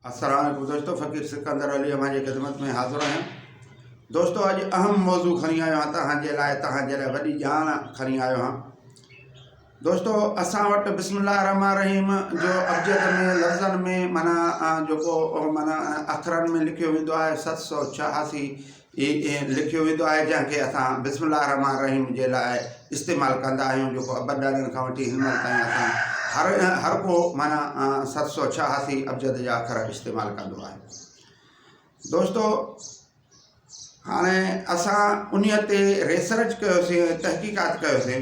اسران ۽ گذشتو فقير سڪندر علي اوهان جي خدمت ۾ حاضر آهيان دوستو اڄ اهم موضوع کڻي آيو آهيان توهان جي لاء توهان جي لاء وڏي ڄاڻ کڻي آيو آهيان دوستو اسان وٽ بسم الله الرحمن الرحيم جو ابجد ۾ لفظن ۾ معنی جو ڪو معنی اکرن ۾ لکيو ويندو آهي ست سو ڇهاسي هي ائين لکيو ويندو آهي جنهن کي اسان بسم الله الرحمٰن الرحيم جي لاء استعمال ڪندا آهيون جيڪو ابن ڏاڏن کان وٺي هن مهل تائين اسان هر هر ڪو معنيٰ ست سو ڇهاسي ابجد جا اکر استعمال ڪندو آهي دوستو هاڻي اسان انهيء تي ريسرچ ڪيوسين تحقيقات ڪيوسين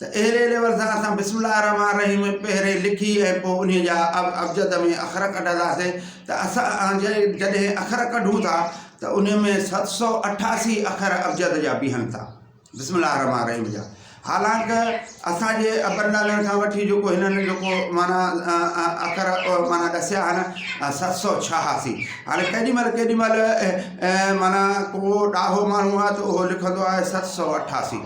ته اهڙي ليول سان اسان بسم الله الرحمٰن الرحيم پهرين لکي ۽ پوء انهي جا ابجد ۾ اکر ڪڍنداسين ته اسان جڏهن اکر ڪڍون ٿا ته انهي ۾ ست سؤ اٺاسي اکر ابجد جا بيهن ٿا بسم الله الرحمٰن الرحيم جا حالانڪ اسان جي ابن ڏالڻ کان وٺي جيڪو هنن جيڪو معنيٰ اکر معنيٰ ڏسيا آهن ست سؤ ڇهاسي هاڻي ڪيڏي مهل ڪيڏي مهل معنيٰ ڪو ڏاهو ماڻهو آهي ته اهو لکندو آهي ست سؤ اٺاسي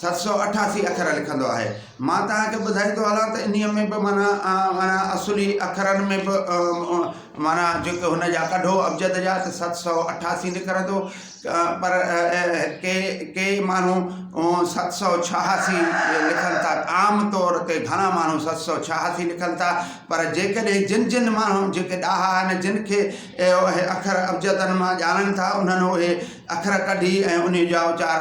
ست سؤ اٺاسي اکر لکندو آهي. مان توهان کي ٻڌائيندو هلان ته انهيء ۾ به معنيٰ معنيٰ اصلي اکرن ۾ به معنيٰ جيڪي هن جا ڪڍو ابجد جا ته ست سؤ اٺاسي نڪرندو پر ڪي ڪي ماڻهو ست سؤ ڇهاسي لکن ٿا عام طور تي گهڻا ماڻهو ست سؤ ڇهاسي لکن ٿا پر جيڪڏهن جن جن ماڻهن جيڪي ڏاها آهن جن کي اهي اکر ابجدن مان ڄاڻن ٿا انهن اهي اکر ڪڍي ۽ انهيء جا اچار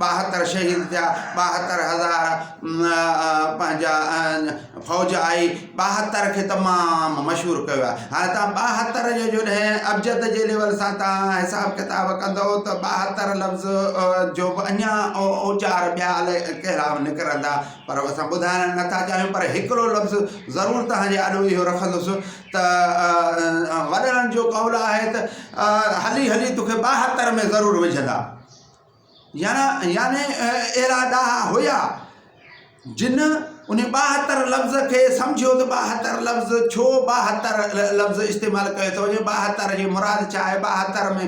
ٻاهتر شهيد ٿيا، ٻاهتر هزار پنهنجا فوج آئي، ٻاهتر کي تمام مشهور ڪيو ويو آهي. هاڻي تان ٻاهتر جو جڏهن ابجد جي ليول سان تان حساب ڪتاب ڪندو ته ٻاهتر لفظ جو به اڃا اوچار ٻيا الائي ڪهڙا نڪرندا پر اسان ٻڌائڻ نه ٿا چاهيون پر هڪڙو لفظ ضرور تهان جي آڏو اهو رکندس ته وڏڙن جو قول آهي ته هلي هلي توکي ٻاهتر ۾ ضرور وجهندا. يعني اهڙا ڏاها هيا جن ان ٻاهتر لفظ کي سمجهيو ته ٻاهتر لفظ ڇو ٻاهتر لفظ استعمال ڪيو ٿو وڃي ٻاهتر جي مراد ڇا آهي ٻاهتر ۾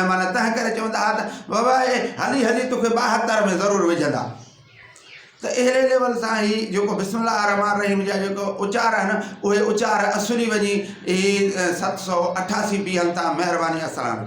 معنيٰ تنهن ڪري چوندا هئا ته بابا اي هلي هلي توکي ٻاهتر ۾ ضرور وجهندا ته اهڙي ليول سان هي جيڪو بسم الله الرحمٰن الرحيم جا جيڪو اچار آهن اهي اچار اسري وڃي هي ست سؤ اٺاسي بيهن تان مهرباني اسلام